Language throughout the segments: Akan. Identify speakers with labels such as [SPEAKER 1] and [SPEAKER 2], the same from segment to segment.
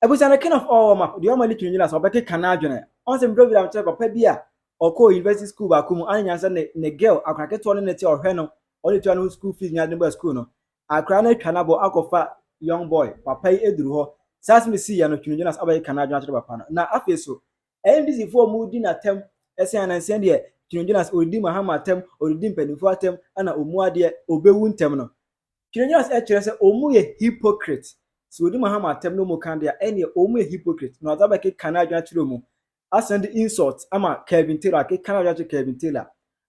[SPEAKER 1] abusua no king of all wɔma deɛ ɔma ne tumi gyina sɛ ɔbɛkeka n'adwene ɔn sɛ mbrɛ wiram kyerɛ papa bi a ɔkɔɔ university school baako mu ane nyansa ne ne girl akora ketewa no ne te ɔhwɛ no ɔne tua no ho school fees nyinaa de no baa school no akora no atwa n'abɔ akɔfa young boy papa yi aduru hɔ saa asɛm si yɛ no tumi gyina sɛ ɔbɛkeka n'adwene akyerɛ papa no na afei so ndc foɔ ɔmo di n'atɛm ɛsɛn anansia deɛ tumi gyina sɛ ɔredi mahama atɛm ɔredi mpanimfoɔ atɛm ɛna ɔmu adeɛ ɔbɛwu ntɛm no Quirinius kyerɛ sɛ wɔn yɛ hypocrite, sɛ wɔdi Muhammad atɛm na wɔn kan de a, ɛneɛ wɔn yɛ hypocrite, na ɔde abɛkeka n'adwene akyerɛ wɔn, asan de insult ama Kevin Taylor, akeka n'adwene akyerɛ Kevin Taylor,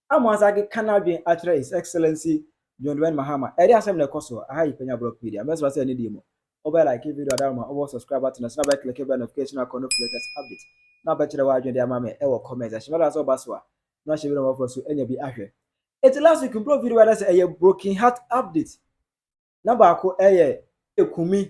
[SPEAKER 1] ama wasan akeka n'adwene akyerɛ His Excellency John Dramani Mahama, ɛdeɛ asɛm na ɛkɔ soɔ, aha yɛ Panya Blogpedia, mɛsrɛ sɛ ɛne deɛ mu, wobɛ like video adaroma, wobɔ subscribe button no so na wobɛ click bell notification icon no for latest update, na wobɛkyerɛ w'adwene de ama me wɔ comment section, na ɛda nso ɔba so a, na hyɛ video no mmɔfra so nya bi ahwɛ. Eti last week mprɔ video bɛda sɛ ɛyɛ broken heart update na baako ɛyɛ ekumi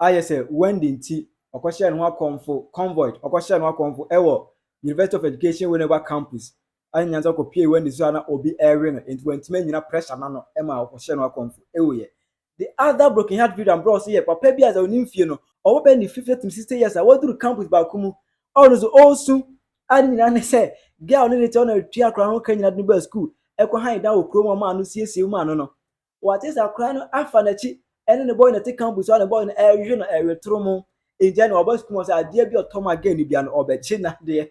[SPEAKER 1] ayɛ sɛ Wendy nti ɔkɔhyɛɛ ne ho akɔmfo convoyed ɔkɔhyɛɛ ne ho akɔmfo ɛwɔ University of Education Winneba campus ɛne nyansa ɔkɔpie Wendy so a na obi ɛrewe no enti wantumi anyina pressure no ano ɛma ɔkɔhyɛɛ ne ho akɔmfo ɛwuiɛ The other broken heart video a mbrɛ ɔse yɛ papa bi a dza ɔnnyim fie no ɔwɔ bɛyɛ ne fifth to sixth years a ɔadur campus baako mu a ɔno so ɔresu a ne nyina ne sɛ girl a ɔne no tse hɔ na ɔretua akora no ho ka nyina de no baa skuul kɔ han dan wɔ kuro mu a ɔmaa no siesiee mu maa no no ɔatse ase akora no afa n'akyi ɛne ne boy na ɛte campus hɔ a ne boy no ɛrehwehwɛ no ɛretoromon nti ɛne ɔba skuul mu ɔsɛ adeɛ bi ɔtɔ ma girl no bia no ɔbɛgye n'adeɛ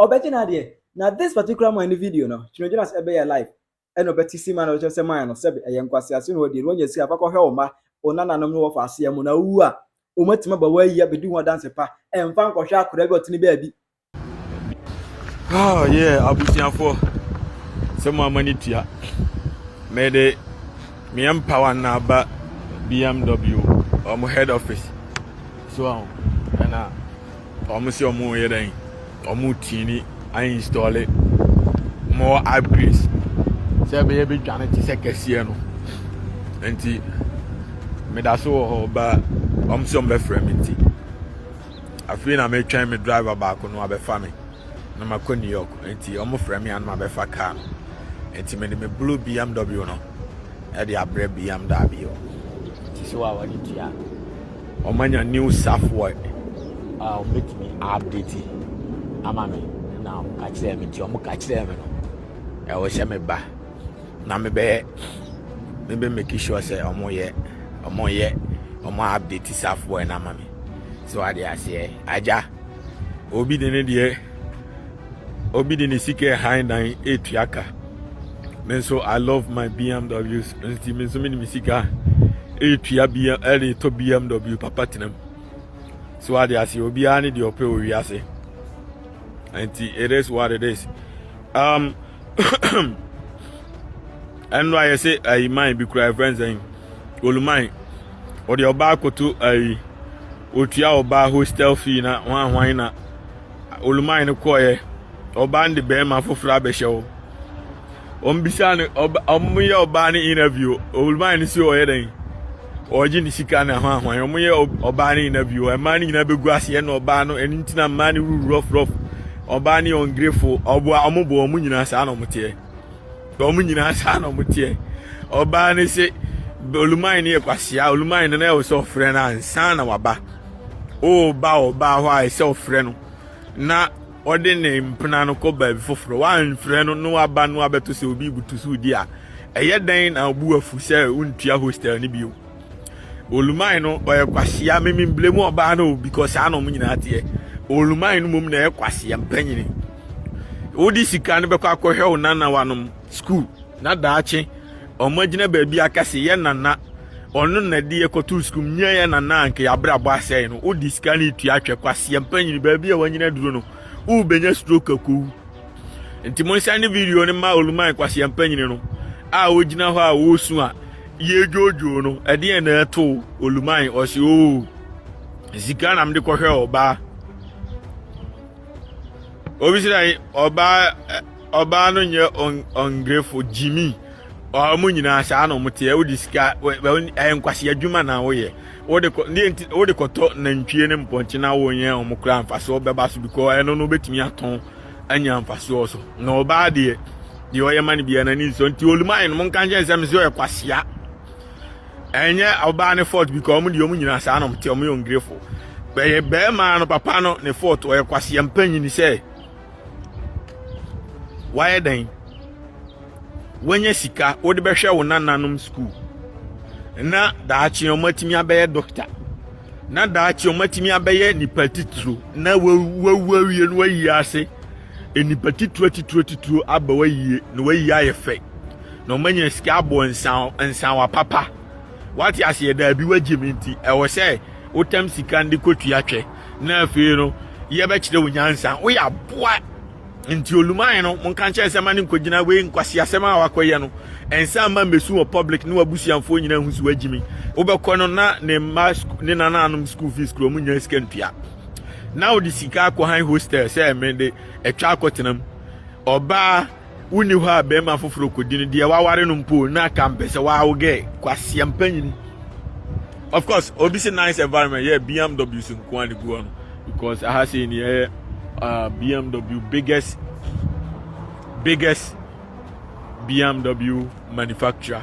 [SPEAKER 2] Ɔbɛgye no adeɛ. Na this particular man
[SPEAKER 1] ne video no, Kyno Jonas ɛbɛyɛɛ live ɛna ɔbɛte sima na ɔbɛkyerɛ sɛ man no sɛbe ɛyɛ nkwasease na wɔdie no wanya sika fa kɔhwɛ wo mma, wo nananom ne wɔfa aseɛ mo na wowu a wɔn atumi aba woayi abɛdi ho adanse pa ɛmfa nkɔhwɛ akwadaa bi a ɔtene baabi. Oh
[SPEAKER 3] yeah, abusuafoɔ sɛ mo ama ne tua mede meɛ mpawa na aba BMW wɔn head office so ɛna Wɔn se wɔn reyɛ dɛn? Wɔn retini ainstɔle more upgrades sɛ ɛbɛyɛ bɛdwane te sɛ kɛseɛ no. Nti meda so wɔ hɔ ba wɔn se wɔn bɛfrɛ me nti. Afei na metwɛn me driver baako no abɛfa me na makɔ New York. Nti wɔn frɛ me anam abɛfa kaa no. Nti mede me blue BMW no ɛde abrɛ BMW daabio. Nti sɛ wɔn a wɔde tua. Wɔanya new software a wɔbɛtumi aupdate ama me na wɔka kyerɛɛ me nti wɔka kyerɛɛ me no ɛwɔ sɛ meba na mebɛyɛ mebɛ make sure sɛ wɔyɛ wɔyɛ wɔn update software no ama me so ade aseɛ agya obi de ne deɛ obi de ne sika ɛhan dan etua ka me nso i love my bmw nti me nso me de me sika etua bm ɛde tɔ bmw papa tena mu so ade ase obiara ne deɛ ɔpɛ wɔ wiase nti it is what it is um ɛno ayɛ sɛ ayi man bi kura ɛfɛn sɛn oluman ɔde ɔbaa koto ayi. Otua ɔbaa hostel fee na hwan hwan na oluman no kɔɔyɛ. Ɔbaa no de bɛrima foforɔ abɛhyɛ hɔ. Wɔn bisa no ɔba wɔn yɛ ɔbaa no interview oluman no si ɔyɛ dɛn ɔregye ne sika na hwan hwan wɔn yɛ ɔbaa no interview mmaa no nyinaa bɛgu ase ɛna ɔbaa no ɛno nti na mmaa no wuru rɔfrɔf ɔbaa no yɛ ɔngrefo ɔboa wɔn boɔ wɔn nyinaa saa na wɔn teɛ. na wɔn nyinaa saa na wɔn teɛ ɔbaa no se oluman no yɛ kwasia oluman no na ɛwɔ sɛ ɔfrɛ no ansa na waba ɔreba ɔbaa hɔ a ɛsɛ ɔfrɛ no na ɔde ne mpena no kɔ baabi foforɔ wamfrɛ no na waba no abɛto sɛ obi butu so di a ɛyɛ dɛn na ɔbu afu sɛ wontua hostel no bio Oluman no ɔyɛ kwasea mememble mu ɔbaa no because saa na ɔmo nyinaa teɛ Oluman no mom na ɛyɛ kwasea mpanyini wode sika no bɛkɔ akɔhwɛ wo nanawanom school na daakye ɔmo agyina baabi aka se yɛ nana ɔno na de yɛkɔto school nyɛ yɛ nana anka yɛabrabɔ asɛe no wode sika no tua atwɛ kwasea mpanyini baabi a wanyina duro no wobɛnya stroke akowu nti monhyɛ ne video no ma Oluman kwasea mpanyini no a ogyina hɔ a wɔresu a Yɛredwoodwoo no, ɛdeɛn na ɛtoo Oluman? Ɔse, oo, sika na mede kɔhwɛ ɔbaa. Obi sɛ ɔbaa ɔbaa no nyɛ ɔngrefo gyimi ɔmo nyinaa saa na ɔmo teɛ wode sika ɛyɛ nkwasi adwuma na woyɛ wode kɔ ne nti wode kɔtɔ nantwie ne mpɔnkye na wonyɛ ɔmo kora mfasoɔ bɛba so bikɔ ɛno no wobɛtumi atɔn anya mfasoɔ so na ɔbaa deɛ deɛ ɔyɛ ma no biara n'ani nsɔ nti olumae no monka nkyɛn sɛ mesɛ ɔyɛ kwasea ɛnyɛ ɔbaa ne fort bi ka ɔmo deɛ ɔmo nyinaa saa na ɔmo te ɔmo yɛ ongirefo bɛyɛ bɛrima no papa no ne fort ɔyɛ kwasea mpanyin sɛ wayɛ dɛn wanya sika wode bɛhwɛ wo nananom sukuu na daakye ɔmo atumi abɛyɛ dɔkta na daakye ɔmo atumi abɛyɛ nipa titiro na wawu awie no wayi ase nnipa titire atitire atitire aba w'ayie na w'ayie ayɛ fɛ na wɔn anya sika abɔ nsan nsanwa papa wate aseɛ daabi wagye me nti ɛwɔ sɛ wotam sika no de kɔtua twɛ na afei no yɛbɛkyerɛ wo nyansa woyɛ aboa nti oluman no monka nkyɛn sɛ ma ne nkɔgyina wei nkwasi asɛm a wakɔyɛ no ɛnsa ma mmɛsu wɔ public ne wabusuafoɔ nyinaa hu so agyimi wobɛkɔ no na ne mma ne nananom school fees kuro mu nya sika ntua na wode sika akɔhan hostel sɛ mede atwa akɔtena mu ɔbaa wonni hɔ a bɛrima foforɔ kɔdi no deɛ waware no mpo na ka mpɛ sɛ wawo gɛ kwaseɛ mpanyini of course obi se nice environment yɛ bmw so nko a ne gu hɔ no because aha sei ne ɛyɛ uh, bmw biggest biggest bmw manufacturer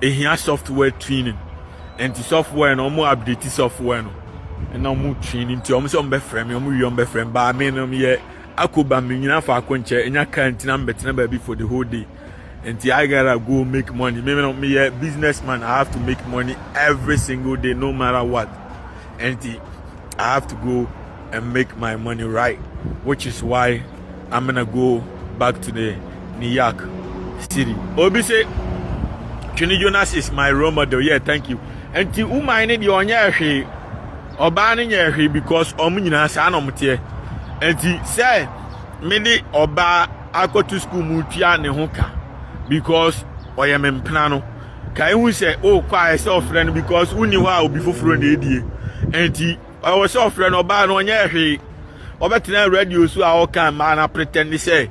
[SPEAKER 3] ehia software twinning ɛnti software no ɔmo update software no ɛna ɔmo twin nti ɔmo sɛ ɔmo bɛfrɛ me ɔmo wie ɔmo bɛfrɛ me baa me no yɛ akoba me nyina faako nkyɛ enya kaa nti na mbɛtena baabi for the whole day nti I gotta go make money me no meyɛ businessman I have to make money every single day no matter what Enti I have to go and make my money right, which is why I'm gonna go back to the New York City. Obi say, Twini Jonas is my role model. Yeah, thank you. And the woman ne deɛ ɔnyɛ ɛhwee, ɔbaa ne nyɛ ɛhwee because ɔmo nyinaa saa na ɔmo teɛ. Nti sɛ me ne ɔbaa akɔto sukuu mu tua ne ho ka because ɔyɛ me mpena no. Kae hu sɛ wokɔ a ɛsɛ ɔfrɛ no because wonni hɔ a obi foforɔ na ɛdie. Ɛnti ɛwɔ sɛ ɔfrɛ no ɔbaa no ɔnyɛ hwee. Ɔbɛtena radio so a ɔka mmaa no apretɛnde sɛ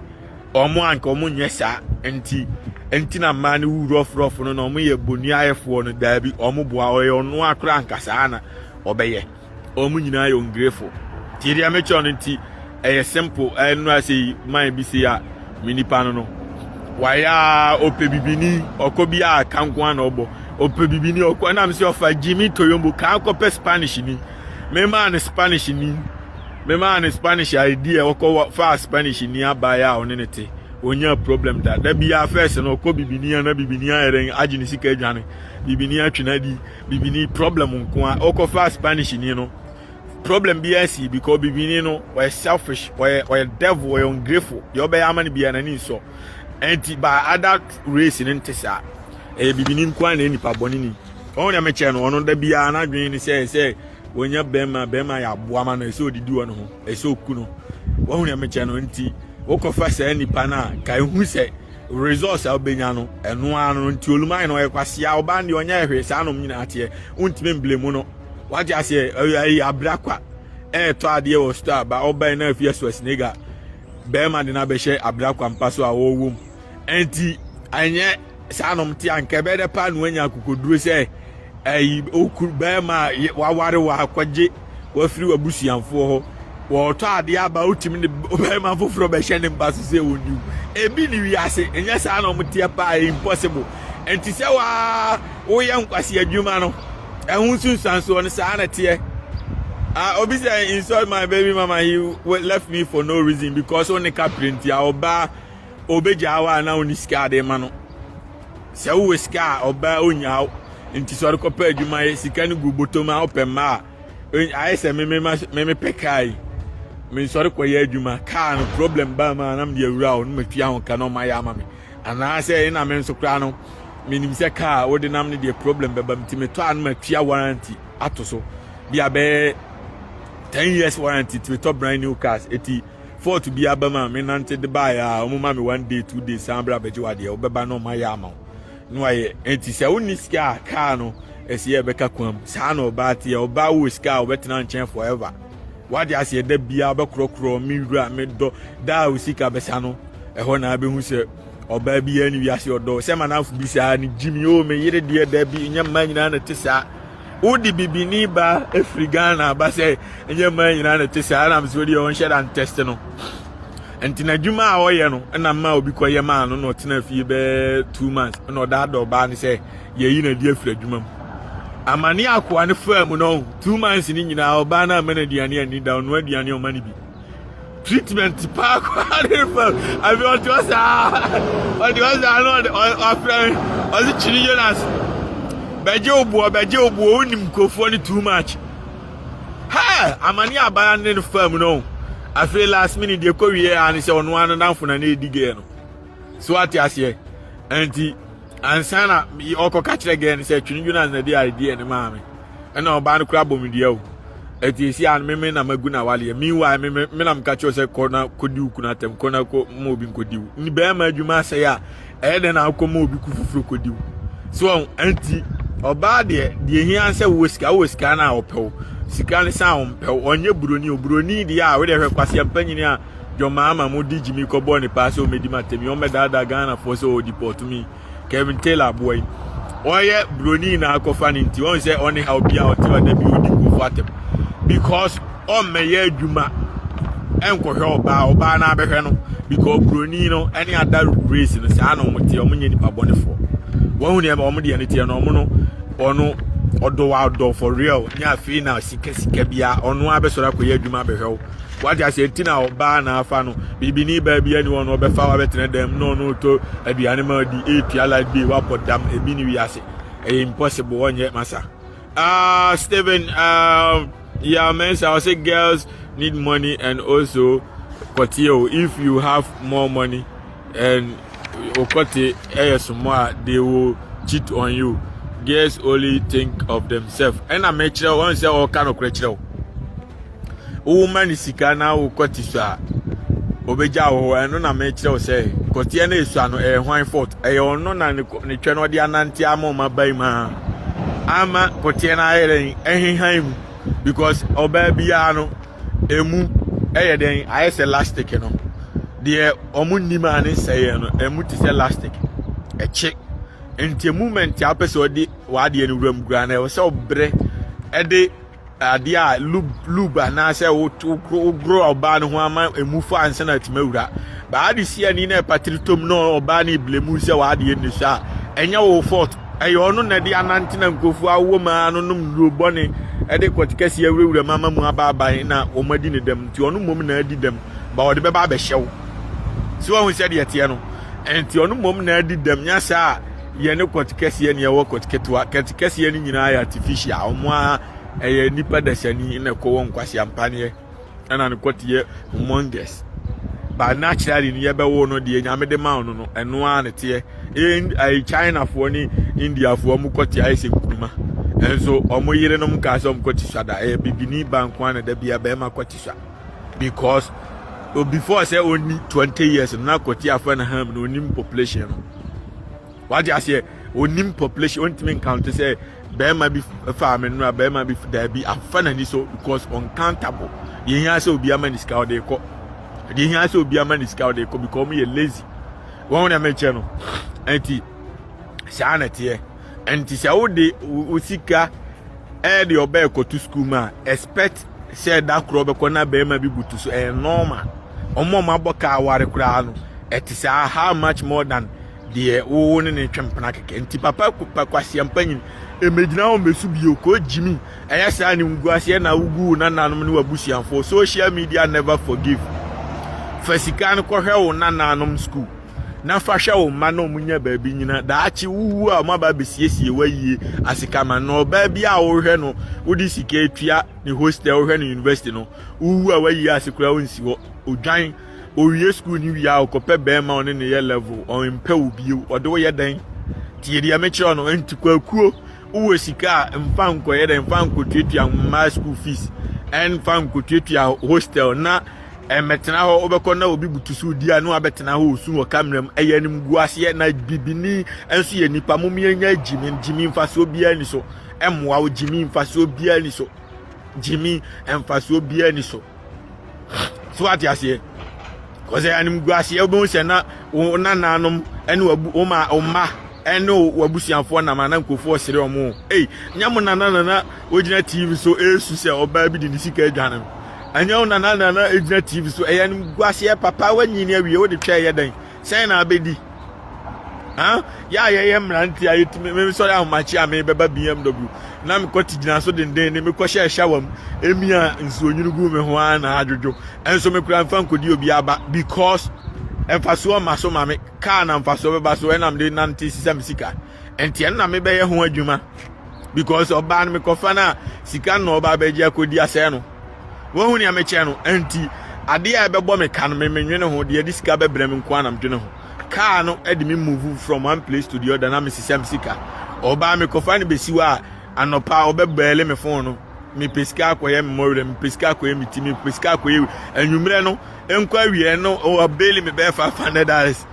[SPEAKER 3] ɔmo anka ɔmo nyɛ saa. Ɛnti ɛnti na mmaa no wu rɔforɔfo no na ɔmo yɛ boniayɛfoɔ no daabi ɔmo boa ɔyɛ ɔnoa koraa anka saa na ɔbɛyɛ. Wɔn nyinaa yɛ ɔngrefo. Nti deɛ mekyerɛ no nti ɛyɛ simple ɛnora sei man bi sei a me nipa no no wayɛ a ɔpɛ bibini ɔkɔ bi a ka nko na ɔbɔ ɔpɛ bibini ɔkɔ ɛna mesɛ ɔfa Jimmy Toyombo kaa kɔpɛ Spanish ni memaa no Spanish ni memaa no Spanish idea ɔkɔ fa Spanish ni abaeɛ a ɔne ne te ɔnya problem da da biara fɛs no ɔkɔ bibini a na bibini ayɛ dɛn agye ne sika adwane bibini atwe no adi bibini problem nko a ɔkɔfa spanish ni no problem bi asi because bibini no ɔyɛ selfish ɔyɛ ɔyɛ devil ɔyɛ ungrateful deɛ ɔbɛyɛ ama no biara n'ani nsɔ ɛnti by other race no nte saa ɛyɛ bibini nko a na yɛ nipa bɔne ni ɔno deɛ mekyɛ no ɔno da biara n'adwene ne sɛ sɛ wɔnya bɛrima bɛrima yɛ aboa ma no ɛsɛ ɔdidi wɔ no ho ɛsɛ ɔku no wɔn deɛ mekyɛ no nti wokɔfa saa nipa no a ka ehu sɛ Results a wobɛnya no, ɛno ara no nti olum ayɛ no ɔyɛ kwasea, ɔbaa no deɛ ɔnyɛ hwee, saa nom nyinaa teɛ, wontumi mble mu no. Wate aseɛ, ɛyɛ abira kwa, ɛretɔ adeɛ wɔ store aba, ɔbɛn na afie so asinega, bɛrima de no abɛhyɛ abira kwa mpa so a ɔrewɔ mu. Ɛnti, ɛnyɛ saa nom te anka ɛbɛyɛ dɛ paa na wanya akokoduro sɛ Eyi wo kunu barima a waware wo akɔgye wafiri w'abusuafoɔ hɔ. Wɔretɔ adeɛ aba wotumi ne barima foforɔ bɛhyɛ ne mpa so sɛ wɔnni wo. Ebi ne wiase ɛnyɛ saa na wɔteɛ paa ɛyɛ impossible. Nti sɛ waa woyɛ nkwasi adwuma no ɛho nsunsuansoɔ no saa na teɛ. Uh, obi sɛ insult my baby mama he left me for no reason because ɔne kapere nti a ɔbaa ɔbɛgyaa wɔ a na ɔne sika ade ma no. Sɛ wowɔ sika a, ɔbaa onnya wo. Nti sɛ ɔde kɔpɛ adwuma yɛ sika no gu bɔtɔm a wopɛ mma a, ayɛ sɛ memepɛ kaa yi. Mensɔre kɔyɛ adwuma. Kaa no problem baa mu a na mede awura wo na matua ho ka na ɔmayɛ ama me. Anaasɛ ɛna me nso koraa no menim sɛ kaa wode nam no deɛ problem bɛba mu nti metɔ a na matua warranty ato so. Bi a bɛyɛ ten years warranty nti metɔ brand new cars. Eti Fort bi aba mu a menante de baeɛ a wɔma me one day two days san bra bɛgye wadeɛ wobɛba no ɔma yɛ ama wo na wayɛ enti sɛ wonni sika a kaa no ɛsi yɛ ɛbɛka kwan mu saa na ɔbaa teɛ ɔbaa wɔ sika a wɔbɛtena nkyɛn forever wade aseɛ da biara bɛkorɔkorɔ me wura me dɔ daa wo sika bɛsa no ɛhɔ na abɛhu sɛ ɔbaa biara ne wiase ɔdɔ sɛ manafo bi saa ne gyimi o me yere deɛ da bi nyɛ mmaa nyinaa na te saa wode bibini ba ɛfiri ghana aba sɛ ɛnyɛ mmaa nyinaa na ɛte sɛ ara nam sɛ wodeɛ ɔnhyɛ da ntɛste no nti n'adwuma a ɔyɛ no ɛna mma obi kɔyɛ maa no na ɔtena fie bɛɛ two months ɛna ɔda adɔ ɔbaa no sɛ yɛyi na adi afiri adwuma mu amane akoa no faa mu no two months no nyinaa ɔbaa no ama no aduane ani da ɔno aduane ɔma no bi treatment paa koraa ne fa afei ɔte hɔ saa ɔte hɔ saa na ɔde ɔfrɛ me ɔse kyini jonas bɛgye wo boɔ bɛgye wo boɔ wonim nkurɔfoɔ no too much hɛ amane abaya ne no fam no afei last minute deɛ kɔwie a ne sɛ ɔno ano damfo na ne ɛdi gɛɛ no so ate aseɛ ɛnti ansa na ɔkɔka kyerɛ gɛɛ no sɛ twe ne dwene ansa di a ɛdi ɛne maame ɛna ɔbaa no kora bɔ me dua o ɛti ɛsi a meme na magu no awaleɛ meanwhile meme me na meka kyerɛ sɛ kɔ na kɔdi wo kunu atɛm kɔ na kɔ ma obi nkɔdi wo ne bɛrima adwuma asɛe a ɛyɛ dɛn na akɔ ma obi ku foforɔ kɔdi wo so ɔn ɛnti ɔbaa deɛ deɛ hia sɛ wowɔ sika wowɔ sika no a ɔpɛw sika no san ɔmpɛw ɔnyɛ buroni o buroni deɛ a wode hwɛ kwaseɛ mpanyini a John Mahama mo de gyimi kɔbɔ ne paa sɛ ɔmɛdi ma tɛmi ɔmɛdaadaa Ghanafoɔ sɛ ɔdipɔto mi Kevin Taylor aboa yi ɔyɛ broni na akɔfa ne nti ɔn sɛ ɔne ha obi a ɔte hɔ da bi ɔdi nkurɔfoɔ atɛm because ɔmmɛyɛ adwuma ɛnkɔhwɛ ɔbaa ɔbaa na abɛhwɛ no because broni no ɛne ada race no saa na ɔmo teɛ ɔmo nyɛ nipa bɔnefoɔ wɔn ho nneɛma ɔmo deɛ no teɛ no ɔmo no ɔno ɔdɔ wa ɔdɔ for real nyɛ afei na sika sika bia ɔno abɛsɔrɔ akɔyɛ adwuma abɛhwɛ wo wate ase nti na ɔbaa na afa no bibini baa bi ɛne ɔno ɔbɛfa wabɛtena dɛm na ɔno ɔtɔ aduane ma ɔdi etua light bill wabɔ dam ebi ne wiase ɛyɛ impossible wɔnyɛ masa ah uh, Stephen uh, yeah mensa ɔsɛ girls need money and also kɔteɛ o if you have more money and okɔte ɛyɛ somɔ a they will cheat on you girls only think of themselves ɛna mɛkyerɛ wɔn sɛ ɔka no korɛ kyerɛ o. woma no sika na wokɔ te so a obegya wo hɔ ɛno na mekyerɛ wo sɛ kɔteɛ no esua no ɛyɛ hwan fort ɛyɛ ɔno na ne twɛ no ɔde anante ama ɔma ban mu a ama kɔteɛ no ayɛ dɛn ɛhehan mu because ɔbaa biara no emu ɛyɛ dɛn ayɛ sɛ lastic no deɛ ɔmo nnim a ne nsɛyɛ no emu te sɛ lastic ɛkye nti moment a wopɛ sɛ ɔde w'adeɛ no wuram gura no ɛwɔ sɛ ɔbrɛ ɛde adeɛ a lub lub anaasɛ wogoro ɔbaa no ho ama emu fa ansa na atumi awura baa de si ani na ɛpatiri tom na ɔbaa no ebile mu sɛ w'adeɛ nni so a ɛnyɛ wo fɔt ɛyɛ ɔno na ɛde anante na nkurɔfoɔ awɔ mu a no nom nnuro bɔne ɛde kɔte kɛseɛ awurawura mu ama mu abaaban na wɔn adi ne dɛm nti ɔno mmom na adi dɛm ba ɔde bɛba abɛhyɛ wo si wɔn ho sɛ deɛ teɛ no nti ɔno mmom na adi dɛm nyɛ saa a yɛ ne kɔt kɛseɛ ne ɛwɔ kɔt ketewa kɛt kɛseɛ no nyinaa yɛ artificial wɔn a ɛyɛ nipa dasani na ɛkɔ wɔn nkwasi ampaneɛ ɛna ne kɔt yɛ humongous but naturally no yɛbɛwo no deɛ nyame de ma no no ɛno ara ne teɛ ɛyɛ chinafoɔ ne indiafoɔ wɔn kɔt ayɛ sɛ nkuruma ɛnso wɔn yerenom kaa sɛ wɔn kɔt sua da ɛyɛ bibini ba nko ara na da bia bɛrima kɔt sua because before sɛ ɔnni twenty years no na kɔti afɛ no ham na ɔnim population no wagye aseɛ ɔnim population ɔntumi nkante sɛ bɛrima bi faa me nnora bɛrima bi daabi afa n'ani so because uncountable deɛ hia sɛ obi ama ne sika ɔde kɔ deɛ hia sɛ obi ama ne sika ɔde kɔ because wɔn yɛ lazy wɔn na mɛkyɛ no ɛnti saa na teɛ ɛnti sɛ wode wo sika ɛde ɔbɛɛ kɔto sukuu mu a expect sɛ da korɔ bɛkɔ na bɛrima bi butu so ɛyɛ nɔɔma ɔmo ɔmo abɔ ka aware koraa no ɛte saa how much more than deɛ wowo ne ne twɛn mpena kɛkɛ nti papa pa kwasia mpa nyini ɛmɛgyina wɔn bɛsu bio kɔ gyimi ɛyɛ saa ne ngu aseɛ na wogu wo nananom ne wabusuafoɔ social media never forgive fa sika no kɔhwɛ wo nananom school na fa hwɛ wo mma na wɔn nya baabi nyina daakye wowu a wɔn aba abɛsiesie wayie asekama na ɔbaa bi a wohwɛ no wode sika atua ne hostel wohwɛ no university no wowu a wayie ase koraa wonsi hɔ odwan owie sukuu no wie a ɔkɔpɛ bɛrima ɔne ne yɛ level ɔmpɛ wo bio ɔde woyɛ dɛn tie deɛ mekyerɛ no nti kwakuo Wowɔ sika a, mfa nkɔyɛ dɛ, mfa nkotuatua mmaa school fees, ɛnfa nkotuatua hostel na ɛmɛtena hɔ. Wobɛkɔ na obi butu so di a na wabɛtena hɔ osu wɔ kamera mu. Ɛyɛ animguaseɛ na bibini nso yɛ nipa. Mom yɛnya gyimi, gyimi mfasoɔ biara ni so. Ɛmmoa wo gyimi mfasoɔ biara ni so. Gyimi mfasoɔ biara ni so. so ate aseɛ kɔsɛ animguaseɛ wobɛhu sɛ na wo nananom ne wo ma wo mma ɛne w'abusuafoɔ nam ana nkurɔfoɔ sere ɔmo ei nyɛ mo nana nana wogyina tv so ɛresu sɛ ɔbaa bi de ne sika adwane no ɛnyɛ wo nana nana ɛgyina tv so ɛyɛ animguaseɛ papa woanyini awie wode twɛ ɛyɛ dɛn sɛn na abɛdi ah yɛ a yɛyɛ mmerante a yɛtumi mesɔre ahomakye a mebɛba bmw na mekɔte gyina so denden ne mekɔhyɛ ɛhyɛ wam ɛmi a nsuonyini gu me ho ara na adwodwo ɛnso mekora mfa nkɔdi obi aba because mfasoɔ ma so ma me kaa na mfasoɔ bɛba so ɛnam de nante sisa me sika ɛnti ɛno na mebɛyɛ ho adwuma because ɔbaa no mekɔfa no a sika no na ɔbaa bɛgye akɔdi asɛe no wahu nea mekyɛ no ɛnti adeɛ a ɛbɛbɔ me ka no memenwene ho deɛ ɛde sika bɛbrɛ me nko a na medwene ho kaa no de me move from one place to the other na mesesɛ me sika ɔbaa mekɔfa no bɛsi hɔ a anɔpa ɔbɛbɛɛle me fon no mepɛ sika akɔyɛ mmɔwerɛ mepɛ sika akɔyɛ me ti mepɛ sika akɔyɛ anwummerɛ no nkɔ awiɛ no ɔbɛɛle me bɛyɛ five hundred dollars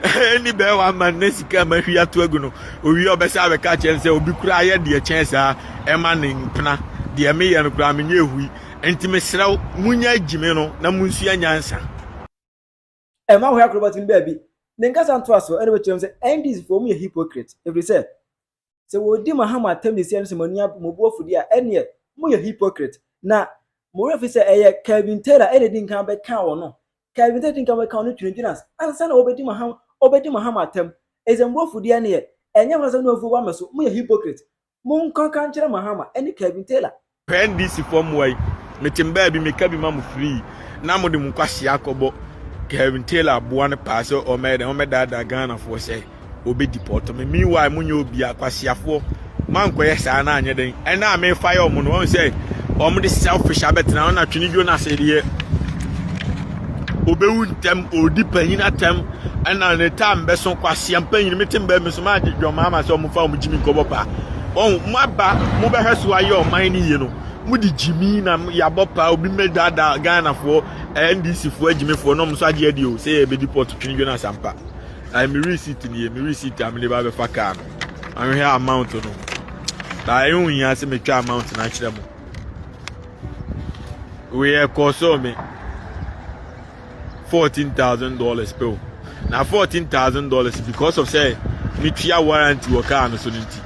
[SPEAKER 3] ɛni bɛɛ wa ma ne sika ma hwi ato agu no owie ɔbɛsa abɛka akyerɛ no sɛ obi koraa yɛ deɛ kyɛn saa ɛma ne mpena deɛ meyɛ no koraa menyɛ ehui nti mesrɛ wo munya agyimi no na munsua nyansa
[SPEAKER 1] ɛma hɔ akrobat no baabi ne nkasa ntoa so ɛna bɛkyerɛ mu sɛ ndc foɔ mu yɛ hypocrite ɛfiri sɛ Sɛ wɔredi mo aham atɛm de sie ano sɛ mo ani abu, mobu afudeɛ a, ɛnneɛ moyɛ hypocrite. Na mo werɛ fi sɛ ɛyɛ Kelvin Taylor ɛna ɛdi nkan bɛkaa wɔn no. Kelvin Taylor di nkan bɛkaa wɔn no twinatwina ansa na wɔbɛdi mo aham, wɔbɛdi mo aham atɛm. Enti sɛ mobu afudeɛ ɛnneɛ, ɛnyɛ mo na asɛm no afu aba me so, moyɛ hypocrite. Monkɔ nka nkyerɛ Mahama ɛne Kelvin Taylor. Pɛn DC foɔ
[SPEAKER 3] mmoa yi. Mete mbaa bi meka bi ma mo free na mo de mo nkwasea akɔbɔ Kevin Taylor aboa no paa sɛ ɔmɛyɛ dɛn ɔmɛdaadaa Ghana foɔ sɛ ɔbɛ deport me meanwhile mo nyɛ obi akwaseafoɔ mo ankɔyɛ saa na anyɛ dɛn ɛna a mefa yɛ ɔmo no ɔmo sɛ ɔmo de selfish abɛtena ɔna twene dwo no ase deɛ ɔbɛwu ntɛm ɔdi panyin atɛm ɛna ne taa mbɛso kwasia mpanyin mi te mbaa mi so maa gye dwom maa ma sɛ ɔmo fa ɔmo gyimi nkɔbɔ paa ɔn mo aba mo bɛhwɛ so ayɛ ɔman ne yie no mo de gyimi na yabɔ paa obi mmɛ daadaa ghanafoɔ ndc foɔ agyimifoɔ na ɔmo nso agye adi o sɛ yɛ bɛdi pɔt twene dwene asampa ɛɛ mi receipt nie mi receipt a mi de ba bɛfa kaa no ahwehwɛ amount no baa ɛyɛ ohia sɛ mi twa amount no akyerɛ mo wei ɛkɔɔ sɔɔ mi. fourteen thousand dollars pɛ o na fourteen thousand dollars because of sɛ metua warranty wɔ car no so no nti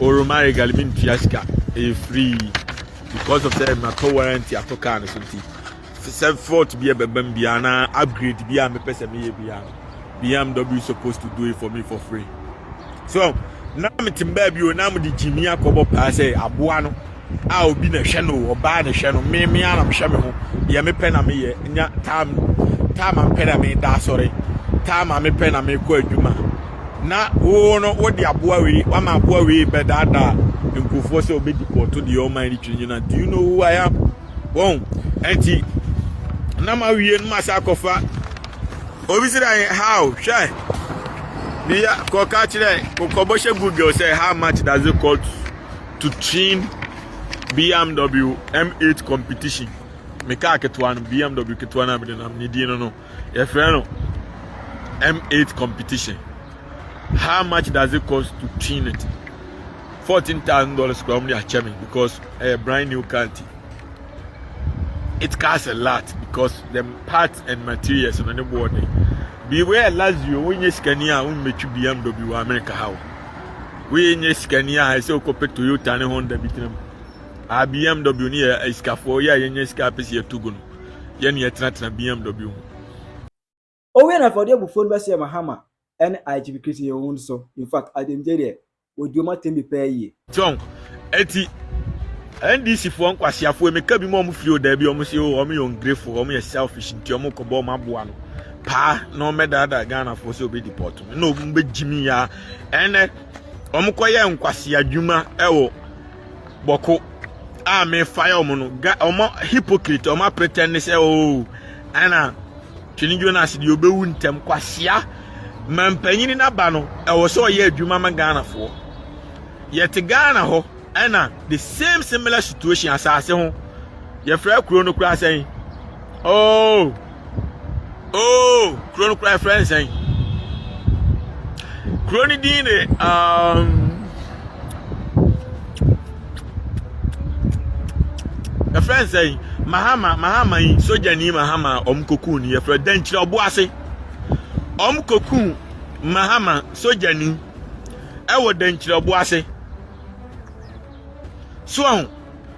[SPEAKER 3] oroma regal mi ntua sika ɛyɛ e free because of sɛ matɔ warranty atɔ car no so nti sɛ fault bi ɛbɛba mu biara na upgrade bi a mepɛ sɛ meyɛ biara bmw suppose to do it for me for free. so na mete baabi o na mede gyimi akɔbɔ paa sɛ aboa no a obi na hwɛ no ɔbaa na hwɛ no me me anam hwɛ me ho deɛ mepɛ na meyɛ nya taa taa ma mpɛ na meda asɔre taa ma mepɛ na mekɔ adwuma na wo no wode aboa wei wama aboa wei bɛdaadaa nkurɔfoɔ sɛ ɔbɛdi pɔɔto deɛ ɔman no twiri nyina do you know who I am wɔn ɛnti na ma wie no ma sa akɔfa Obi si dan how hwɛ ne ya kɔ ka kyerɛ kɔ bɔ hyɛ google sɛ how much does it cost to trim BMW M8 competition me kaa ketewa no BMW ketewa no a mede nam ne din no no yɛfrɛ no M8 competition how much does it cost to trim it fourteen thousand dollars kura wɔn de akyɛ me because ɛyɛ brand new car ti. it costs a lot because the parts and materials no ne boɔ den beware lazio wonyɛ sikani a wommɛtwi bmw wɔ america ha o woyɛ nyɛ sikani a ɛsɛ wokɔpɛ toyota ne honda bi tena mu a bmw ne yɛ asikafoɔ yɛ a yɛnyɛ sika apɛ sɛ yɛto gu no yɛne yɛtenatena
[SPEAKER 1] bmw ho Owie no afei ɔde
[SPEAKER 3] abufuo no
[SPEAKER 1] bɛhyɛɛ
[SPEAKER 3] Mahama
[SPEAKER 1] ne IGP Christian Young nso. In fact, Ademgye deɛ, ɔdi wɔn atɛm bi paa yie. Tionk,
[SPEAKER 3] eti NDC foɔ nkwaseafoɔ yi, meka bi mu a wɔn firi o daabi, wɔn se o wɔn yɛ ongrefoɔ, wɔn yɛ selfish nti wɔn kɔbɔ wɔn aboa no paa na wɔn bɛdaadaa Ghanafoɔ sɛ wɔbɛ deport me na wɔn bɛgye me yaa ɛnɛ wɔn kɔyɛ nkwasea dwuma ɛwɔ bɔko a me fire ɔmo no ga ɔmo hypocrite ɔmo apretend ne sɛ oo ɛna twene jonas deɛ ɔbɛwu ntɛm kwasia ma mpanyini n'aba no ɛwɔ sɛ ɔyɛ adwuma ma ghanafoɔ yɛte ghana hɔ ɛna the same similar situation asase ho yɛfrɛ kuro no koraa sɛn oo. Oh. oh kuro no kura ɛfrɛ nsɛn kuro no din de um, ɛfrɛ nsɛn mahama mahama yi sogyani mahama a wɔn kokuu ni yɛfrɛ dankyerɛ ɔbo ase wɔn kokuu mahama sogyani ɛwɔ dankyerɛ ɔbo ase so ɔho.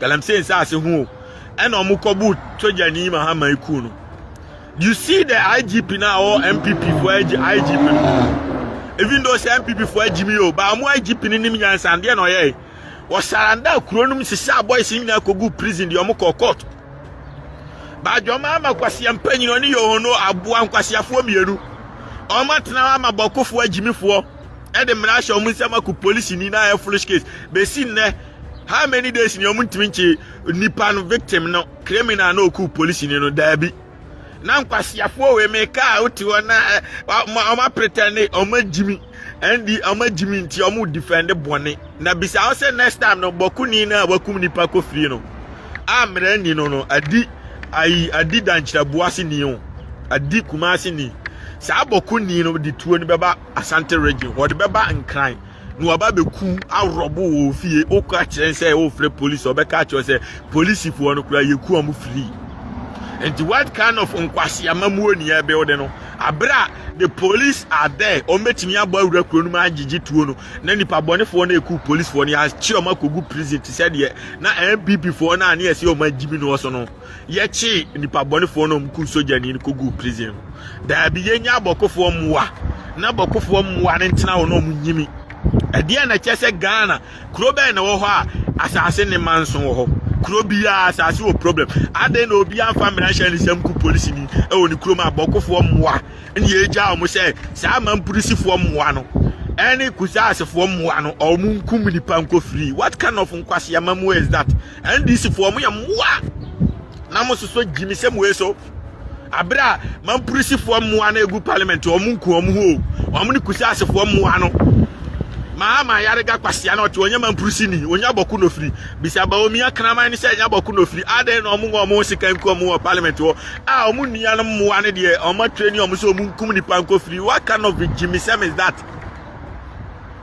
[SPEAKER 3] galamsey nsaase ho o ɛna ɔmo kɔ bu sogyani mahama eku no you see the igp na ɔwɔ npp fo igp no even though sɛ npp fo agyi mi o ba ɔmo igp no nim nyansa adeɛ na ɔyɛ wɔsaranda kuro nom sisa boys nyinaa kogu prison deɛ ɔmo kɔ court badwama ama kwasia mpanyin ɔne yohono aboa nkwasiafoɔ mmienu ɔmo atena ama bɔkofoɔ agyimifoɔ ɛde mmara ahyɛ ɔmo nsɛm akɔ polisi ni na ayɛ foolish case besi nnɛ How many days ni ɔmo ntumi nkye nipa no victim no criminal na oku polisi ni no daabi. Na nkwasiafoɔ wei me kaa wote hɔ na eh, ɔmo apretɛn ne ɔmo agyimi ɛndi ɔmo agyimi nti ɔmo defend bɔne na bisa ho sɛ next time no bɔkuni na wakum nipa kɔ fie no a mmerɛ ni no no adi ayi adi dankyerɛboa se ni o adi kumase ni saa bɔkuni no de tuo no bɛba asante region wɔde bɛba nkran na waba bɛku aworɔbo wɔ ofie wokɔ akyerɛ sɛ wofrɛ polisi ɔbɛka akyerɛ sɛ polisifoɔ no koraa yɛku ɔmo firi nti what kind of nkwaseama muo ni ɛbɛwode no aberɛ a the police are there ɔmo bɛtumi abɔ awura kuro no mu agyegye tuo no na nipa bɔnefoɔ no ɛku polisifoɔ no yɛakye ɔmo akɔgu prison te sɛ deɛ na npp foɔ no a ne yɛsɛ ɔmo agyimi no wɔ so no yɛkyee nnipa bɔnefoɔ na ɔmo kuu sogyani no kɔguu prison no daabi yɛnya abɔkofoɔ mmoa na abɔkofoɔ mmoa no ntena hɔ na ɔmo nyini ɛdeɛ na kyɛ sɛ ghana kuro bɛn na wɔ hɔ a asase ne ma nso wɔ hɔ kuro biara asase wɔ problem adɛn na obi amfa mmarahyɛ ne nsɛm ku polisi ni ɛwɔ ne kurom abɔkofoɔ mmoa ne yɛgya ɔmo sɛ saa mampolisifoɔ mmoa no ɛne kusaasefoɔ mmoa no ɔmo nkum nipa nkɔ free what kind of nkwaseama mu is that NDC foɔ mo yɛ mmoa na mo soso gyimi sɛ mo eso abere a mampurisi foɔ mmoa na egu parliament wɔn nku wɔn ho wɔn ne kusi ase foɔ mmoa no maa maa yare ga kwasia na ɔte wɔn nyɛ mampurisi ni wɔn nyɛ abɔko nofiri bisa ba omi akraman ne sɛ nyɛ abɔko nofiri adan na wɔn wɔn ho sika nku wɔn wɔ parliament wɔ a wɔn nua no mmoa no deɛ wɔn atwere ni wɔn sɛ wɔn nkum nipa nkofiri what kind of gyimi sɛm is that.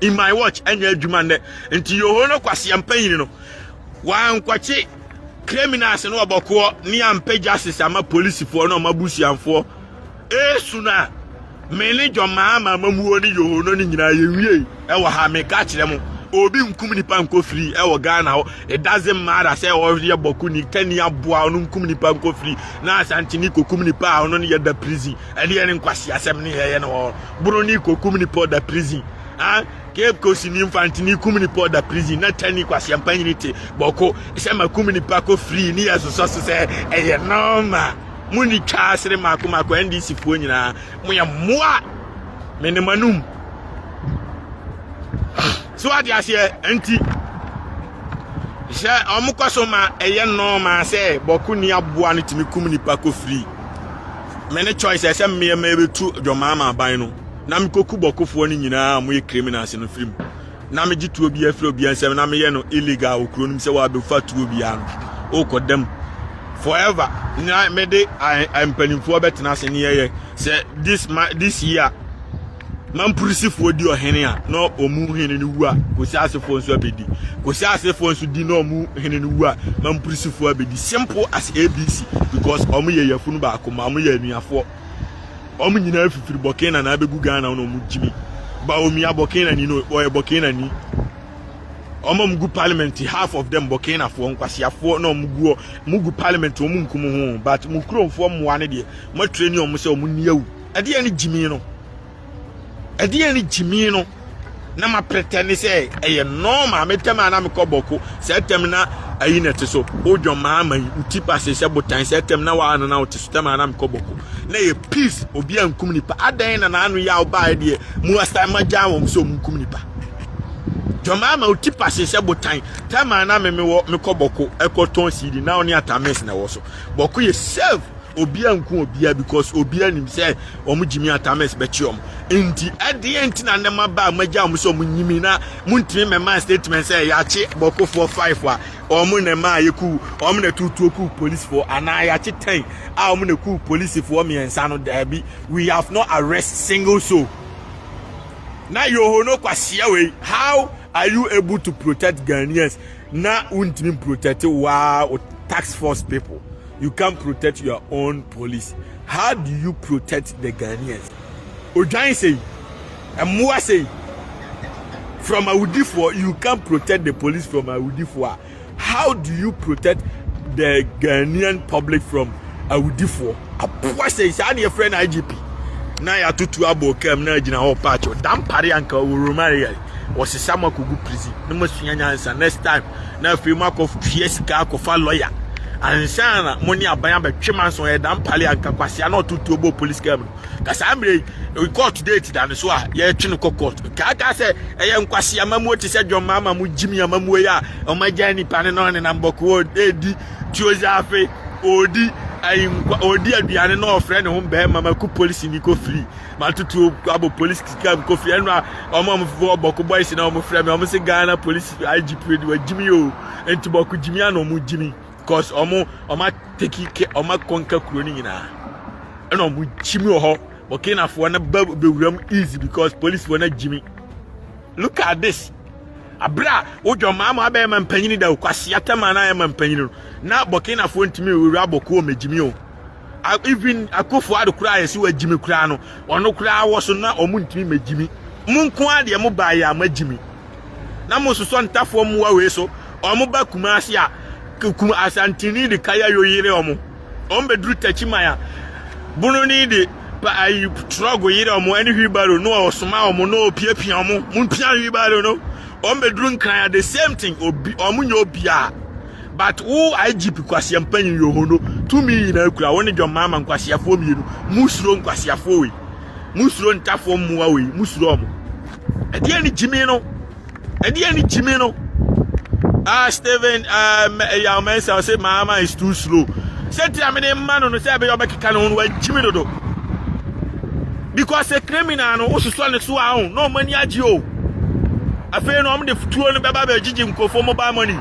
[SPEAKER 3] in my watch ɛnyɛ adwuma nnɛ nti yoho no kwaseɛ mpanyin no wankɔkye criminals no ɔbɔkoɔ ne ampɛ justice ama polisifoɔ no ɔma busuanfoɔ esu no a me ne dwɔmaa ma amamuo ne yoho no ne nyinaa yɛnwie ɛwɔ ha meka kyerɛ mo obi nkum nipa nkɔ firi ɛwɔ ghana hɔ it doesn't matter sɛ ɔyɛ bɔko ni kani aboa ɔno nkum nipa nkɔ firi na asantini kɔkum nipa a ɔno no yɛ da prison Ɛdeɛ ne nkwaseasɛm ne yɛyɛ no hɔ bono ne kɔkum nipa ɔda prison ah cape coast ni mfante ne kum nipa ɔda prison na tani kwaseampa nyini te bɔko sɛ ma kum nipa kɔ free ne yɛ sosɔ so sɛ ɛyɛ nɔɔma mo ni twa asere maako maako ndc foɔ nyinaa mo yɛ mmoa me ne manum so ade aseɛ nti Hyɛ wɔkɔ so ma ɛyɛ nɔɔma sɛ bɔko ni aboa no tumi kum nipa kɔ firi. Me ne choice ɛsɛ mmeɛ ma ɛbɛtu dwɔmaama aban no na mekɔku bɔkofoɔ no nyinaa a moyɛ criminals no firi mu na megye tuo bi afiri obiara nsɛm na meyɛ no illegal wɔ kuro no mu sɛ wɔabɛfa tuo biara no wokɔ dam forever na mede mpanimfoɔ bɛtena ase ne yɛyɛ sɛ this, this year Ma Mpurisifɔɔ di ɔhene a na ɔmu hene no wu a Kosiasefɔɔ nso abɛdi. Kosiasefɔɔ nso di na ɔmu hene no wu a ma Mpurisifɔɔ abɛdi. Simple as ABC because ɔmo yɛ yafunu baako ma ɔmo yɛ anuafɔɔ. Ɔmo nyinaa fifiri Bɔkena na abɛgu Ghana na ɔmo gyimi. Bawumia Bɔkena ni no ɔyɛ Bɔkena ni. Ɔmo ɔmo gu parliament half of them Bɔkena fɔɔ nkwasiafɔɔ na ɔmo guɔ. Mo gu parliament ɔmo nkum ho but mo kuromfɔɔ mmoa no deɛ mo atreni ɔmo sɛ ɔmo ni awu. Ɛdeɛn ne gyimii no? Ɛdeɛn ne gyimii no? na ma pretɛne sɛ ɛyɛ nɔɔma me tɛm a na mekɔ bɔko sɛ tɛm na ayi na ɛte so wodwɔn maa ma yi nti pase sɛ botan sɛ tɛm na waa no na wote so tɛm a na mekɔ bɔko na yɛ peace obi a nkum nipa adɛn na naano yɛ a wobaa deɛ mu astan ma gyaa wɔn sɛ ɔmu nkum nipa dwɔn maa ma woti pase sɛ botan tɛm a na memewɔ mekɔ bɔko ɛkɔ tɔn siidi na ɔne atames na ɛwɔ so bɔko yɛ serve Obia nku obia because obia nim sɛ wɔn gyimi atames bɛkye wɔn nti ɛdeɛ nti na ne ma baa magya wɔn sɛ wɔn nyimi na montumi mɛma statement sɛ yɛakye bɔkofoɔ five a wɔn na ɛma yɛku wɔn na tutuo ku polisifoɔ anaa yɛakye ten a wɔn na ku polisifoɔ mmiɛnsa no daabi we have not arrest single soul na yoho no kwaseɛ wei how are you able to protect Ghanaians na wontumi protect waa tax force people you can't protect your own police how do you protect the ghanaians odwan sei mmoa sei from awudifoɔ you can't protect the police from awudifoɔ a how do you protect the ghanaian public from awudifoɔ aboa sei saa ne yɛfrɛ no igp na yɛatoto abɔ kam na agyina hɔ paakye dampare anka wɔromare yɛ wɔsesa mo akɔgu prison na moasua nyansa next time na afei moakɔtua sika akɔfa lɔya ansa na mo ne aban abɛtwe manso ɔyɛ dan pale anka kwasea na ɔtotoɔ bɔ police car mu no ka saa mmerɛ yi court date da no so a yɛtwe no kɔ court kaakaa sɛ ɛyɛ nkwasea amamuo te sɛ dwɔmma ama mo gyimi amamuo yi a ɔmagya nnipa no na ɔnenam bɔkoo ɛdi tuozafe ɔdi ayinkwa ɔdi aduane na ɔfrɛ ne ho bɛrima ma ku polisi ni kɔ firi matutuo abɔ polisi kika mu kofi ɛnu a ɔmo ɔmo fɔ bɔko boys na ɔmo frɛ mi ɔmo se ghana polisi igp de wa gyimi o nti bɔko gyimi ana ɔmo gyimi cause ɔmo ɔmo ateki ke ɔmo akɔnka kuro no nyinaa ɛna ɔmo gyimi wɔ hɔ bɔkinafoɔ no ba bewura mu easy because polisi wɔ no gyimi look at this abira wodwa maa mo abɛyɛ ma mpanyini da o kwasi atɛma na ayɛ ma mpanyini no na bɔkinafoɔ ntumi wura bɔko ɔmo gyimi o. even akofo ado koraa yɛsi wagyimi koraa no ɔno koraa wɔ so na ɔmo ntumi megyimi mo nko ara deɛ mo baa yɛ ama gyimi na mo sosɔ ntafoɔ mmoa wei so ɔmo ba kuma ase a kum asantini de kaya yo yere ɔmo ɔmo bɛduru takyi man a bononi de pa ayi trɔgo yere ɔmo ɛne hwibaro no ɔsoma ɔmo no opiapia ɔmo mo mpia hwibaro no ɔmo bɛduru nkran a the same thing obi ɔmo nyɛ obiara But wo IGP kwasia mpanyin yohono tumi nyinaa kura wo ne John Mahama nkwasiafoɔ mmienu musuro nkwasiafoɔ wei musuro ntafoɔ mmoa wei musuro ɔmo ɛdeɛ ne gyimi no ɛdeɛ ne gyimi no ah Stephen ah ɛyà ɔmo ɛnsa ɔsɛ Mahama is too slow sɛ tira mi de mma no no sɛ ɛbɛyɛ ɔbɛkeka ne ho no wagyimi dodo Because a criminal no wososo ne so a ho na ɔmo ani agye o. Afei no ɔmo de tuo no bɛba bɛgyegye nkurɔfoɔ mobile money.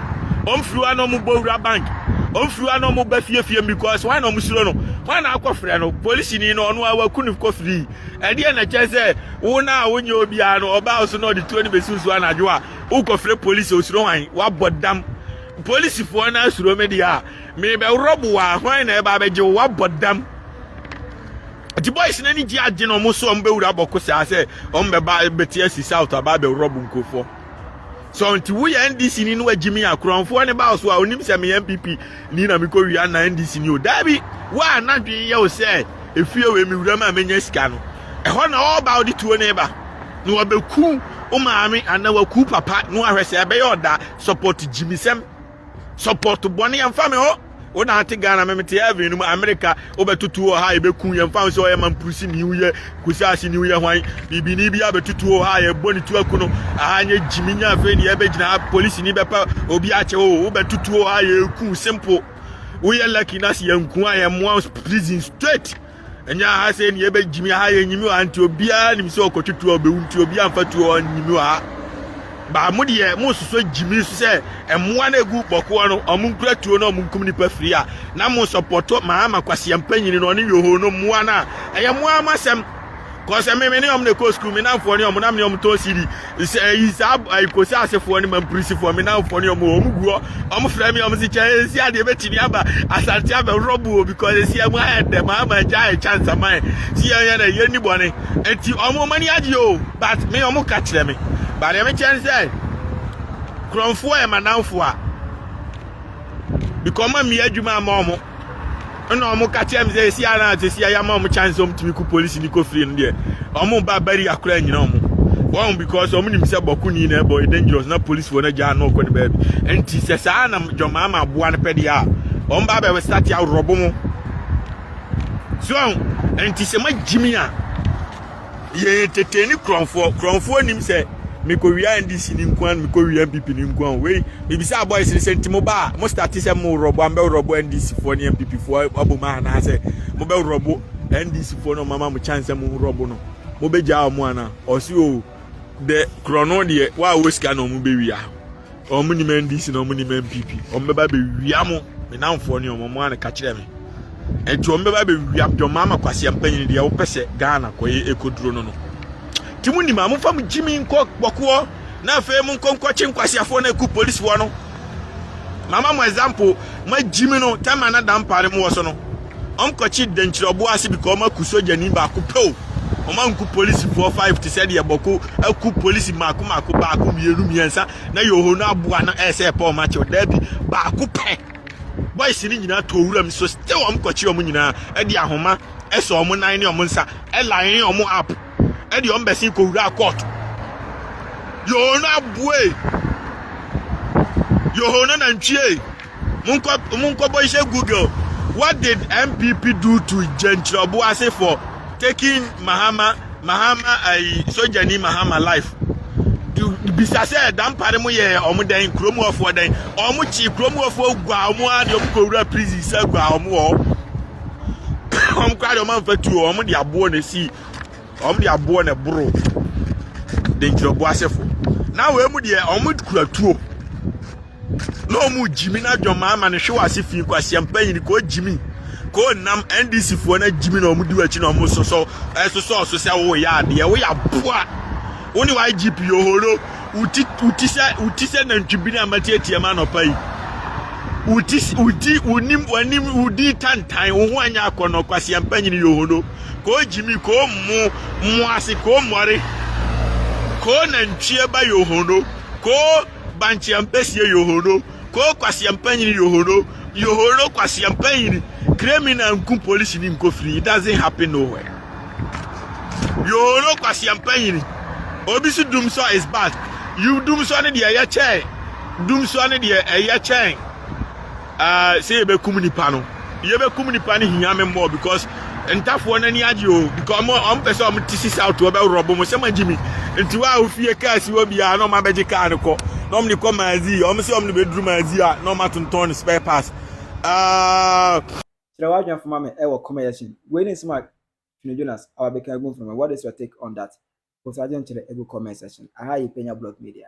[SPEAKER 3] Ɔmo firi hɔ na ɔmo bɔ wura bank. Ɔmo firi hɔ na ɔmo ba fie fie because wɔn na ɔmo suro no. Wɔn na akɔ frɛ no polisi ni no ɔno a waku no kɔ free. Ɛdeɛ na kyɛn sɛ wo na a wonyɛ obiara no ɔbaa ɔso na ɔde tuo no bɛsi nsuo anadwo a wokɔ frɛ polisi osuro hwan wabɔ dam. Polisifoɔ no asuro me deɛ a merebɛworɔ bo a hwan na ɛba abɛgye wo wabɔ dam. Nti boys no ani gye agye na wɔn so wɔn bɛwura bɔko saa sɛ wɔn bɛba bɛte asi south aba abɛwurɔbo nkurɔfoɔ so nti woyɛ ndc ni no agyi me akorɔmfoɔ ne ba so a onim sɛ meyɛ npp ni na mekɔ wia na ndc ni o daabi wo a n'adwene yɛ wo sɛ efie wei mewura mu a menya sika no ɛhɔ na ɔba ɔde tuo ne ba na wɔbɛku wo maame anaa wɔku papa na wɔahwɛ sɛ ɛbɛyɛ ɔda support gyimisɛm support bɔne yɛmfa me hɔ wo na ate ghana me mete heaven no mu amerika wobɛtoto wɔ ha yɛbɛku yɛmfa wo sɛ ɔyɛ mampurusi ne woyɛ kusi ase ne woyɛ hwan biribini bi abɛtoto wɔ ha yɛbɔ ne tu aku no aha nyɛ gyimi nya afei ne yɛbɛgyina ha polisi ni bɛpa obi akyɛ wo oh, wobɛtoto wɔ ha yɛku simple woyɛ lucky na se yɛnku a yɛmmoa prison straight ɛnyɛ aha sɛ ne yɛbɛgyimi aha yɛ nyimi ha nti obiara nim sɛ ɔkɔtwe tuo a ɔbɛwu nti obiara mfa tuo a ɔnyimi wɔ ha baa mo deɛ mososo gyimi so sɛ mmoa no ɛgu bɔkoɔ no ɔmo nkura tuo no ɔmo nkum nipa firi a na mo sɔpɔtɔ maama kwaseɛ mpanyini no ɔne yoho no mmoa no a ɛyɛ mmoa mo asɛm Cause ɛmi mi ne wɔn na ɛkɔ sukuu mi nanfoɔ ne wɔn na mi ne wɔn tɔn CD sɛ ɛyi saa ɛyi kosi asefoɔ ne mampirisifoɔ mi nanfoɔ ne wɔn wɔn gu hɔ wɔn frɛ mi wɔn si kyɛ esi adeɛ bɛtumi aba asante abɛworɔ bu o because esi ɛmu ayɛ dɛ maa ma gya ayɛ chance ama yɛ si yɛn yɛ dɛ yɛn ni bɔne eti wɔn wɔn ani agye o but mi wɔn ka kyerɛ mi but ɛmi kyɛn sɛ kurɔnfoɔ yɛ ma nanfoɔ a because wɔn amia adwuma ama wɔn. ɛna wɔn ka kyerɛ mi sɛ esi ara na esi ayɛ ama wɔn chance wɔn tumi ko polisi ni ko firi no deɛ wɔn ba bari akora nyina wɔn wɔn because wɔn nim sɛ bɔko ni na ɛbɔ yɛ dangerous na polisi wɔn agya ano ɔkɔ ne baabi nti sɛ saa na jɔnmaa ma aboa no pɛ deɛ a wɔn ba bɛ start awurɔbo mo so nti sɛ ma gyimi a. yɛyɛ tete ne korɔnfoɔ korɔnfoɔ nim sɛ mekɔwia ndc ne nko a mekɔwia mpp ne nko a wei mebisa abɔes no sɛ nti mo ba a mo state sɛ mo worɔbo a mobɛworɔbo ndc foɔ ne mpp foɔ abom a anaasɛ mobɛworɔbo ndc foɔ no ɔmama mo kyan sɛ mo worɔbo no mobɛgyaa ɔmo ana ɔse o dɛ korɔ no deɛ wo a wɔ sika na ɔmo bɛwia Wɔn nim NDC na wɔn nim NPP. Wɔn bɛba bɛwia mo. Me namfoɔ ne wɔn, wɔn a na ka kyerɛ me. Nti wɔn bɛba bɛwia mo. Deɛ wɔn ama kwasi mpanyin deɛ wɔpɛ sɛ Ghana kɔyɛ ekoduro no no. Ti mo nim a mo fa mo gyimi nkɔ bɔkoɔ na afei mo nkɔ nkɔkye nkwasiafoɔ na eku polisifoɔ no. Mama mo example, mo agyimi no tɛma na dampa ne mo wɔ so no. Wɔn kɔkye dankyira ɔboɔ ase because wɔn aku sogyani baako pɛ o. Wɔn anku polisifoɔ five te sɛ deɛ bɔko aku polisi mako mako baako mmienu mmiɛnsa na yɛwɔ no aboa no ɛsɛ eh, ɛpɛ wɔn akyɛ o. Daabi baako pɛ. Boys no nyinaa tɔ wura mu so still wɔn kɔkye wɔn nyinaa ɛde ahoma ɛsɛ wɔn nan ne wɔn nsa ɛline wɔn up ɛde wɔn bɛsen kɔ wura court. Yɛwɔ no aboa e. Yɛwɔ no nantwie e. Monkɔ monkɔbɔ nhyɛ Google What did NPP do to Gyenkyerɛbo ase for taking Mahama Mahama ayi sogyani Mahama life? Bisa sɛ dampare mo yɛ ɔmo dɛn kurom wɔfoɔ dɛn ɔmo kyi kurom wɔfoɔ gua ɔmo ara deɛ ɔmo kɔ wura prison sɛ gua ɔmo wɔ ɔmo kora deɛ ɔmo anfa tuo ɔmo de aboɔ na esi ɔmo de aboɔ na ɛboro Gyenkyerɛbo asefo na wɔn mu deɛ ɔmo kura tuo. na ɔmo gyimi na adwamaa ma ne hwe wɔ ase fi nkwaseɛm panyin kɔ gyimi kɔ nam ndc foɔ na gyimi na ɔmo di w'akyi na ɔmo sosɔ ɛsosɔ ɔso sɛ wo yɛ adeɛ wo yɛ aboa wo ne wa igp ohoro wuti wuti sɛ wuti sɛ nantwi bi na matiatia ma nɔpa yi wuti wuti wunim wanim wudi tantan wo ho anya akɔnɔ kwaseɛm panyin yɛ ohoro kɔ gyimi kɔ mo mo ase kɔ mmɔre kɔ nantwie ba yɛ ohoro kɔ Bankye ampesie yohono koo kwasea mpanyini yohono yohono kwasea mpanyini kremina nku polisi ni nko firi it doesn't happen nowhere yohono kwasea mpanyini obi si dumsɔ is bad you dumsɔ ne deɛ ɛyɛ kyɛn dumsɔ ne deɛ ɛyɛ kyɛn uh, sɛ yɛbɛkum nipa no yɛbɛkum nipa no hia me mmɔɔ because ntafoɔ no ani agye o because ɔmo ɔmo pɛ sɛ ɔmo te si south ɔbɛworɔ bo mo sɛ magye mi nti wa a ofie kaa si hɔ biara na ɔmo abɛgye kaa no kɔ na ɔmo de kɔ maazi ɔmo sɛ ɔmo de bɛduru maazi a na ɔmo atontɔn no spare parts uh,
[SPEAKER 1] kyerɛ w'adwene fama me ɛwɔ kɔmɛ yɛ hyɛn wei ne nsɛm a Twene Jonas awa bɛka agu mframa what is your take on that post agye nkyerɛ agu comment section aha yɛ Penya Blog Media.